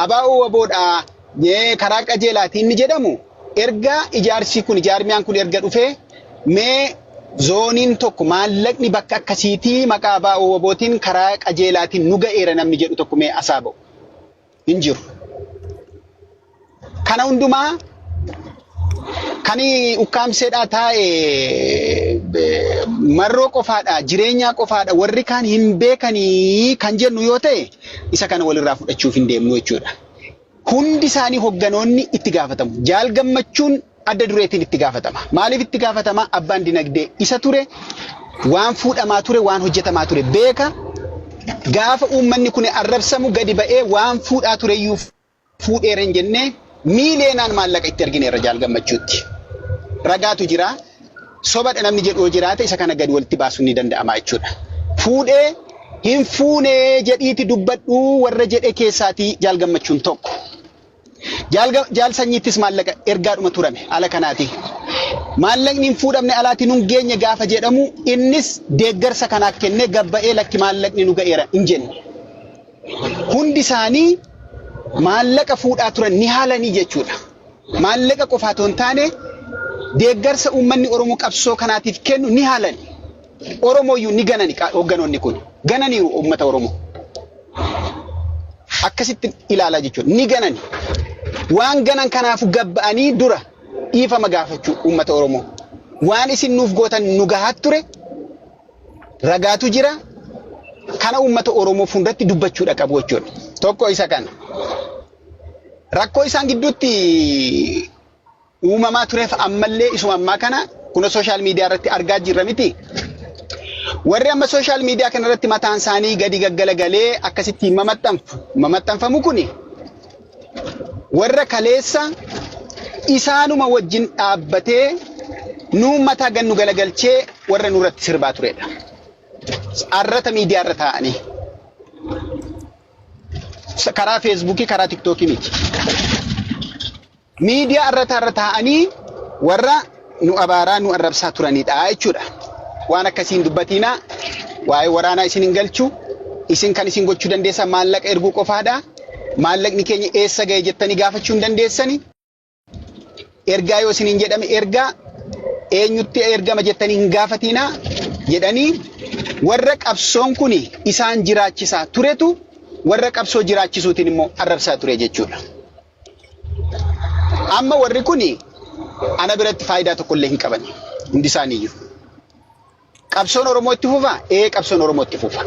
Abaa'oo waboodha. Ee, karaa qajeelaati inni jedhamu erga ijaarsi kun ijaarmiyaan kun erga dhufee mee zooniin tokko maallaqni bakka akkasiitii maqaa abaa wabootiin karaa qajeelaatiin nu ga'eera namni jedhu tokko mee asaa ba'u hin jiru. Kana hundumaa kan ukkaamseedhaa taa'e eh, marroo qofaadha jireenyaa qofaadha warri kaan hin beekanii kan jennu yoo ta'e isa kana walirraa fudhachuuf hin deemnu jechuudha. hundi isaanii hogganoonni itti gaafatamu. Jaal gammachuun adda dureetiin itti gaafatama. Maaliif itti gaafatama? Abbaan dinagdee isa ture, waan fuudhamaa ture, waan hojjetamaa ture beeka. Gaafa uummanni kun arrabsamu gadi ba'ee waan fuudhaa tureyyuu fuudheera hin jennee miileenaan maallaqa itti ergineerra jaal gammachuutti. Ragaatu jira. sobadha namni jedhu yoo jiraate isa kana gad walitti baasuun ni danda'ama jechuudha. Fuudhee hin fuune jedhiiti dubbadhu warra jedhe keessaatii jaal gammachuun tokko. Jaal ga- jaal sanyiittis maallaqa ergaadhuma turame ala kanaati. Maallaqni hin fuudhamne alaati nun geenye gaafa jedhamu innis deeggarsa kanaaf kennee gabba'ee lakki maallaqni nu ga'eera hin jenne. Hundi isaanii maallaqa fuudhaa turan ni haalanii jechuudha. maallaqa qofaa otoo hin taane deeggarsa uummanni Oromoo qabsoo kanaatiif kennu ni haalan. Oromooyyuu ni ganani hoogganoonni kun. Gananiiru uummata Oromoo. Akkasitti ilaalaa jechuudha. Ni ganani. Waan ganan kanaafu gabba'anii dura dhiifama gaafachuu uummata Oromoo. Waan isin nuuf gootan nu gahaa ture ragaatu jira. Kana uummata Oromoo fuulduratti dubbachuudha qabu jechuudha. Tokko isa kana. rakkoo isaan gidduutti uumamaa tureef ammallee isuma ammaa kana kunis sooshaal miidiyaa irratti argaa jirra miti. Warri amma sooshaal miidiyaa kana irratti mataan isaanii gadi gaggalagalee akkasitti mamaxxanfamu kuni warra kaleessa isaanuma wajjin dhaabbatee nu mataa gannu galagalchee warra nurratti sirbaa turedha. Arrata miidiyaa irra taa'anii. karaa feesbuukii karaa tiktookii miti. Miidiyaa irra taarra taa'anii warra nu abaaraa nu arrabsaa turanidha jechuudha. Waan akkasiin dubbatiinaa waa'ee waraanaa isin hin galchu isin kan isin gochuu dandeessan maallaqa erguu qofaadha. Maallaqni keenya eessa ga'e jettanii gaafachuu hin dandeessani. Ergaa yoo isiniin jedhame ergaa eenyutti ergama jettanii hin gaafatiinaa jedhanii warra qabsoon kun isaan jiraachisaa turetu warra qabsoo jiraachisuutiin immoo arrabsaa ture jechuudha. Amma warri kun ana biratti faayidaa tokkollee hin qaban hundi isaaniiyyuu. Qabsoon Oromoo itti fufaa? Ee qabsoon Oromoo itti fufa.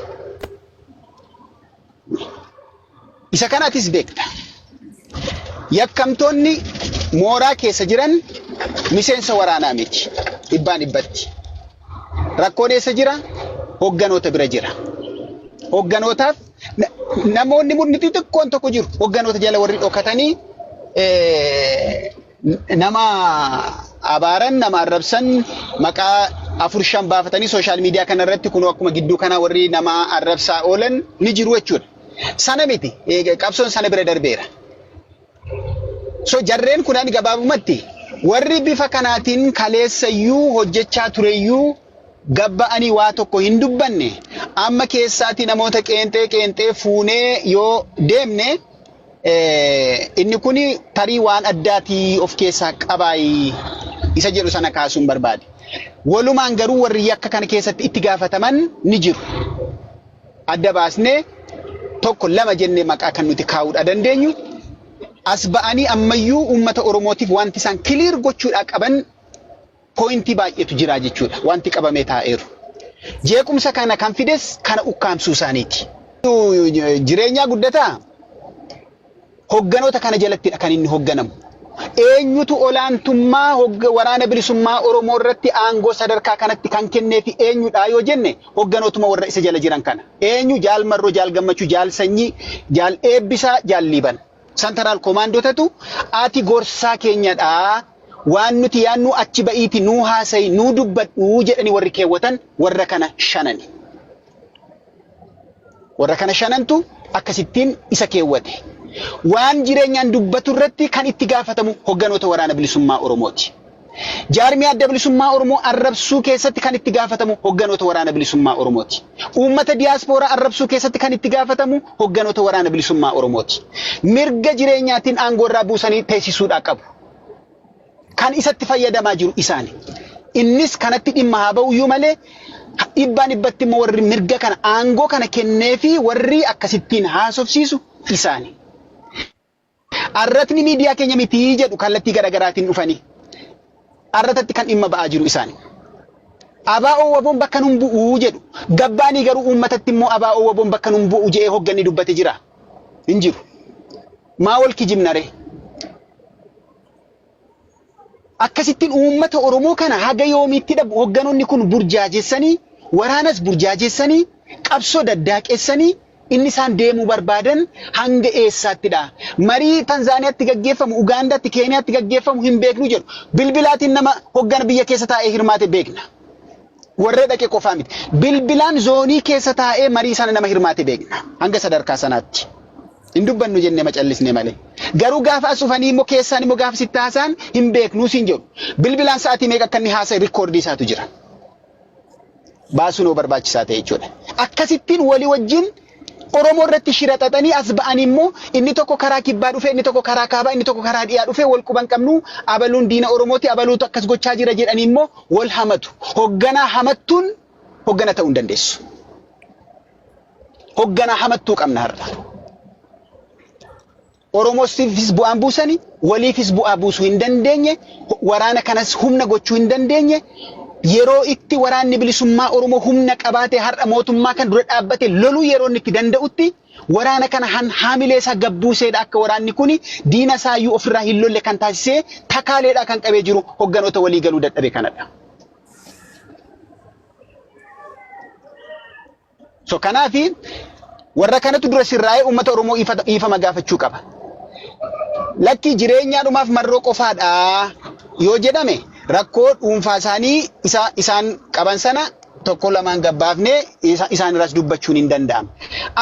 Isa kana atis beekta. Yakkamtoonni mooraa keessa jiran miseensa waraanaa miti. Dhibbaan dhibbatti. Rakkoon eessa jira? Hogganoota bira jira. Hogganootaaf na- namoonni murni xixiqqoon tokko jiru. Hogganoota jala warri dhokatanii eh, Nama abaaran, nama arrabsan maqaa afur shan baafatanii sooshaal miidiyaa kana irratti kunoo akkuma gidduu kana warri nama arrabsaa oolan ni jiru jechuudha. Sana miti qabsoon sana bira darbeera. So jarreen kunan gabaabumatti warri bifa kanaatiin kaleessayyuu hojjechaa tureyyuu gabba'anii waa tokko hin dubbanne amma keessaatii namoota qeenxee qeenxee fuunee yoo deemne Inni kun tarii waan addaatii of keessaa qabaayii isa jedhu sana kaasuun barbaade. Walumaan garuu warri yakka kana keessatti itti gaafataman ni jiru. Adda baasnee tokko lama jennee maqaa kan nuti kaa'uudhaa dandeenyu as ba'anii ammayyuu uummata Oromootiif wanti isaan kiliir gochuudhaa qaban pooyintii baay'eetu jira jechuudha wanti qabamee taa'eeru. Jeequmsa kana kan fides kana ukkaamsuu isaaniiti. Jireenyaa guddataa hogganoota kana jalattidha kan inni hogganamu. Eenyutu olaantummaa hogga- waraana bilisummaa Oromoo irratti aangoo sadarkaa kanatti kan kennee fi eenyudha yoo jenne hogganootuma warra isa jala jiran kana. Eenyu jaal marroo, jaal gammachuu, jaal sanyii, jaal eebbisaa, jaal liiban. Santaraal komaandootatu ati gorsaa keenyadha waan nuti yaannuu achi ba'iiti nuu haasayi nuu dubbadhu jedhani warri keewwatan warra kana shanani. Warra kana shanantu akkasittiin isa keewwate. Waan jireenyaan dubbatu irratti kan itti gaafatamu hogganoota waraana bilisummaa Oromooti. Jaarmiyaa Adda Bilisummaa Oromoo arrabsuu keessatti kan itti gaafatamu hogganoota Waraana Bilisummaa Oromooti. Uummata diyaaspooraa arrabsuu keessatti kan itti gaafatamu hogganoota Waraana Bilisummaa Oromooti. Mirga jireenyaatiin aangoo irraa buusanii teessisuudhaa qabu. Kan isatti fayyadamaa jiru isaani. Innis kanatti dhimma haa ba'uyyuu malee dhibbaan dhibbatti immoo warri mirga kana aangoo kana kennee fi warri akkasittiin haasofsiisu isaani. Arratni miidiyaa keenya miti jedhu kallattii garagaraatiin dhufanii arratatti kan dhimma ba'aa jiru isaani. ABO waboon bakka nun bu'u jedhu. Gabbaanii garuu uummatatti immoo ABO waboon bakka nun bu'u je'ee hogganni dubbate jira. Hin jiru. Maa wal kijibna ree? Akkasittiin uummata Oromoo kana haga yoomiittidha hogganonni kun burjaajessanii, waraanas burjaajessanii, qabsoo daddaaqessanii inni isaan deemuu barbaadan hanga eessaattidha? Marii Tanzaaniyaatti gaggeeffamu, Ugaandaatti, Keeniyaatti gaggeeffamu hin beeknu jedhu. Bilbilaatiin nama hoggana biyya keessa taa'ee hirmaate beekna. warra dhaqe qofaa miti. Bilbilaan zoonii keessa taa'ee marii sana nama hirmaate beekna. Hanga sadarkaa sanaatti. Hin dubbannu jennee macallisne malee. Garuu gaafa as dhufanii immoo keessaan immoo gaafa sitti haasaan hin beeknuu siin jedhu. Bilbilaan sa'aatii meeqa akka inni haasa'e rikkoordii isaatu jira. Baasuun hoo barbaachisaa ta'e jechuudha. Akkasittiin walii wajjin Oromoo irratti shira xaxanii as ba'anii immoo inni tokko karaa kibbaa dhufee inni tokko karaa kaabaa inni tokko karaa dhiyaa dhufee wal quban qabnu abaluun diina Oromooti abaluutu akkas gochaa jira jedhanii immoo wal hamatu. Hogganaa hamattuun hoggana ta'uu hin dandeessu. Hogganaa hamattuu qabna har'a. Oromoosifis bu'aan buusani, waliifis bu'aa buusuu hin dandeenye, waraana kanas humna gochuu hin dandeenye. Yeroo itti waraanni bilisummaa Oromoo humna qabaatee har'a mootummaa kana dura dhaabbatee loluu yeroo inni itti danda'utti waraana kana han haamilee isaa gad buuseedha akka waraanni kuni diina isaayyuu ofirraa hin lolle kan taasisee takaaleedhaa kan qabee jiru hogganoota walii galuu dadhabe kanadha. So kanaafi warra kanatu dura sirraa'ee uummata Oromoo ifa- dhiifama gaafachuu qaba. Lakkii jireenyaa dhumaaf marroo qofaadha yoo jedhame rakkoo dhuunfaa isaanii isa isaan qaban sana tokko lamaan gabbaafnee isa- isaan irraas dubbachuun hin danda'amu.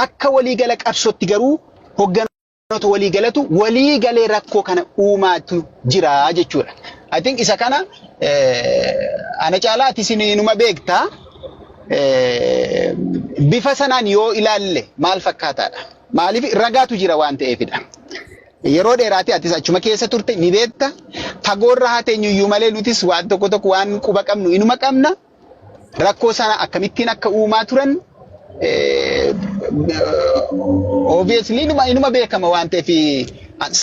Akka waliigala qabsootti garuu hoggan Warroota walii galatu walii galee rakkoo kana uumaatu jira jechuudha. I think isa kana eh, ana caalaa ati isin inuma beektaa eh, bifa sanaan yoo ilaalle maal fakkaataadha? Maaliif ragaatu jira waan ta'eefidha. Yeroo dheeraati atis achuma keessa turte ni beekta. Fagoorra haa teenyuyyuu malee nutis waan tokko tokko waan quba qabnu inuma qabna. rakkoo sana akkamittiin akka uumaa turan obviously inuma inuma beekama waan ta'eef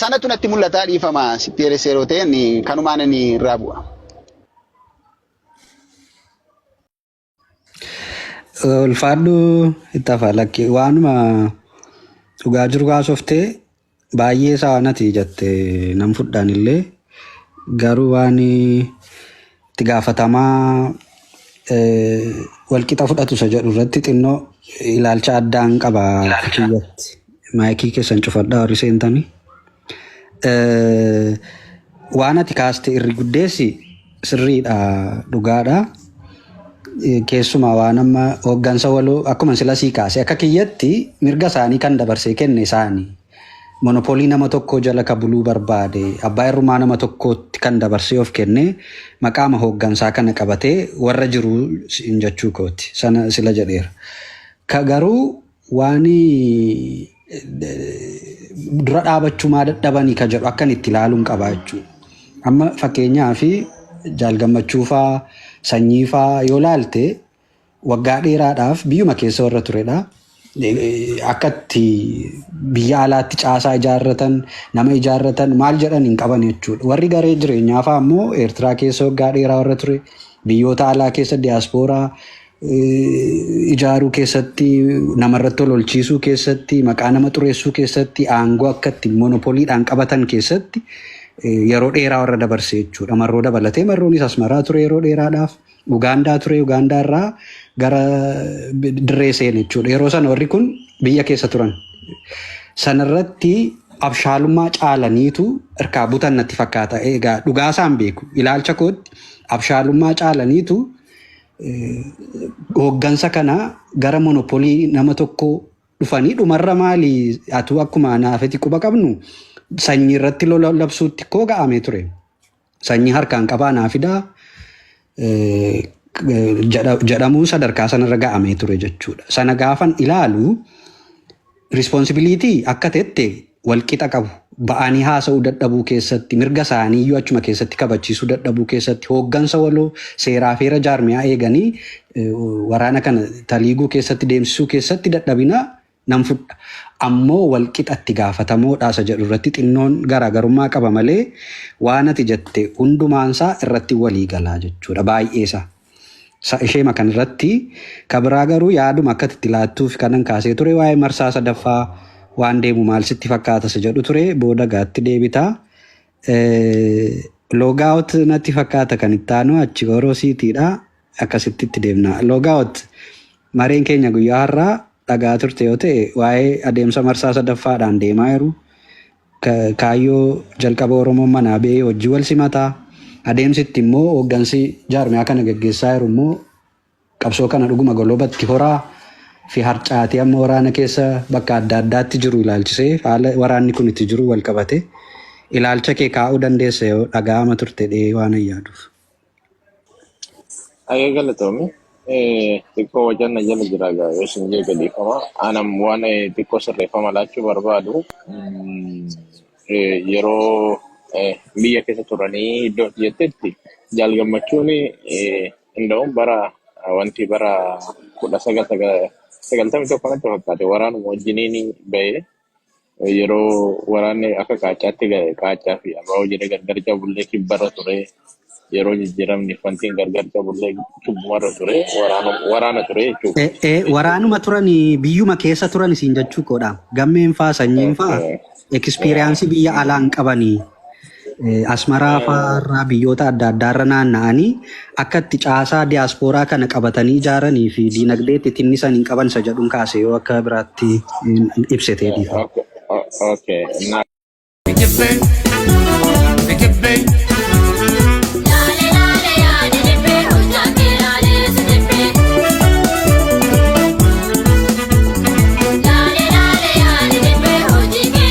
sanatu natti mul'ataa dhiifama sitti eeressee yeroo ta'e ani kanumaan ani irraa bu'a. Ulfaadhu itti hafaa lakki waanuma dhugaa jiru haasoftee Baay'ee isaa nati jatte nan fudhaan illee garuu waan itti gaafatamaa walqixa fudhatu isa jedhu irratti xinnoo ilaalcha addaan qaba kiyyatti maayikii keessan cufadhaa warri seentanii. Waan ati kaaste irri guddeessi Sirriidha dhugaadha. Keessumaa waan amma hooggansa waloo akkuma sila sii kaase akka kiyyatti mirga isaanii kan dabarsee kenne isaani. Monopoolii nama tokkoo jala ka buluu barbaade abbaa irrumaa nama tokkootti kan dabarsee of kenne maqaama hooggansaa kana qabatee warra jiruu hin jechuu kooti sana sila jedheera. Ka garuu Waani dura dhaabachumaa dadhabani ka jedhu akkan itti ilaaluun qabaa jechuu. Amma fakkeenyaa fi jaal gammachuufaa sanyiifaa yoo laalte waggaa dheeraadhaaf biyyuma keessa warra turedha. Akka itti biyya alaatti caasaa ijaarratan nama ijaarratan maal jedhan hin qaban jechuudha. Warri garee jireenyaafaa ammoo Eertiraa keessa waggaa dheeraa warra ture biyyoota alaa keessa diyaaspooraa ijaaruu keessatti, namarratti ololchiisuu keessatti, maqaa nama xureessuu keessatti, aangoo akka itti monopoliidhaan qabatan keessatti yeroo dheeraa warra dabarse jechuudha. Marroo dabalatee marroonis asmaraa ture yeroo dheeraadhaaf. Ugaandaa ture Ugaandaa irraa gara dirree seene jechuudha. Yeroo sana warri kun biyya keessa turan. Sanarratti abshaalummaa caalaniitu irkaa butan natti fakkaata. Egaa dhugaasaan beeku ilaalcha kootti abshaalummaa caalaniitu Hooggansa kana gara monopolii nama tokko dhufanii dhumarra maali atuu akkuma naafeti quba qabnu sanyii irratti lola labsuutti koo ga'amee ture. Sanyii harkaan qabaa naa fidaa jedhamuun sadarkaa sanarra ga'amee ture jechuudha. Sana gaafan ilaalu Responsibility akka tette wal qixa qabu. Ba'anii haasa'uu dadhabuu keessatti, mirga isaanii iyyuu achuma keessatti kabachiisuu dadhabuu keessatti, hooggansa waloo seeraa fi heera jaarmiyaa eeganii waraana kana taliiguu keessatti deemsisuu keessatti dadhabina nan fudha. Ammoo wal qixa itti gaafatamoodha isa jedhu irratti xinnoon garaagarummaa qaba malee waan ati jette hundumaan isaa irratti walii gala jechuudha baay'ee isaa. Sa isheema kan irratti ka biraa garuu yaaduma akka ati itti laattuuf kanan kaasee ture waa'ee marsaa sadaffaa waan deemu maal sitti fakkaata sa jedhu ture booda gaatti deebita loogaawot natti fakkaata kan itti aanu achi goroo siitiidha akkasitti itti deemna loogaawot mareen keenya guyyaa har'aa dhagaa turte yoo ta'e waa'ee adeemsa marsaa sadaffaadhaan deemaa jiru Kaayyoo jalqaba Oromoon manaa ba'ee hojji wal simata. Adeemsi itti immoo hooggansi jaarmiyaa kana gaggeessaa jiru immoo qabsoo kana dhuguma golobatti horaa fi harcaatee amma waraana keessa bakka adda addaatti jiru ilaalchisee haala waraanni kun itti jiru wal qabate ilaalcha kee kaa'uu dandeessa yoo dhaga'ama turte dhee waanan yaaduuf. Ayee galatoomi. Eh, Xiqqoo wajan na jala jira gaa yoo isin jee gadiifama. Anam waan eh, xiqqoo sirreeffama laachuu barbaadu. Mm, eh, Yeroo eh, biyya keessa turanii iddoo itti jettetti jaal gammachuun eh, hunda'uun bara eh, wanti bara kudha sagal sagal- sagaltamii tokko natti fakkaate waraanuma wajjiniin ba'e. yeroo waraanni akka qaacaatti ga- qaacaa fi abaa'oo jedhee gargar cabullee kibbarra ture yeroo jijjiiramni fantiin gargar cabullee kibbumarra ture waraana waraana ture jechuudha. Eh, eh, waraanuma turan biyyuma keessa turan isin jechuu koodha. Gammeen faa sanyiin faa Okay. ekspiriyaansii biyya alaa hin qabanii. Asmaraa fa'aarraa biyyoota adda addaarra naanna'anii akka itti caasaa diyaaspooraa kana qabatanii ijaaranii fi diinagdee itti tinnisan hin qaban isa jedhuun kaase yoo akka biraatti ibsitee dhiifa. Okay. Na Dijibbee, dijibbee, Laale laale yaa dijibbee hojjaa kee laalee si jibbee. Laale laale yaa dijibbee hojii kee